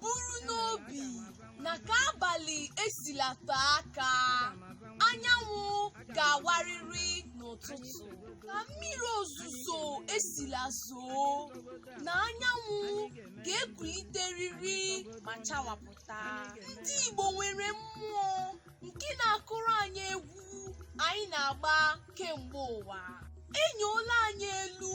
buru n'obi na ka abalị esila tee aka anyanwụ ga-awarịrị n'ụtụtụ ka mmiri ozuzo esila zoo na anyanwụ ga-ekuliterịrị ma chawapụta ndị Igbo nwere mmụọ nke na-akụrụ anyị egwu anyị na-agba kemgbe ụwa enyoola anyị elu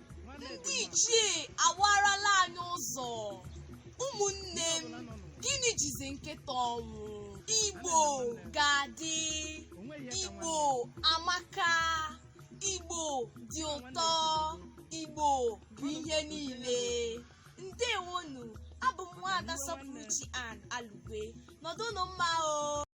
ndị ichie awarala anyị ụzọ ụmụnne m gịnị jizi nkịta ọnwụ igbo ga-adị igbo amaka igbo dị ụtọ igbo bụ ihe niile ndewonu abụ m nwaada sọpụrụchi ann alugwe nọdụnụ mma o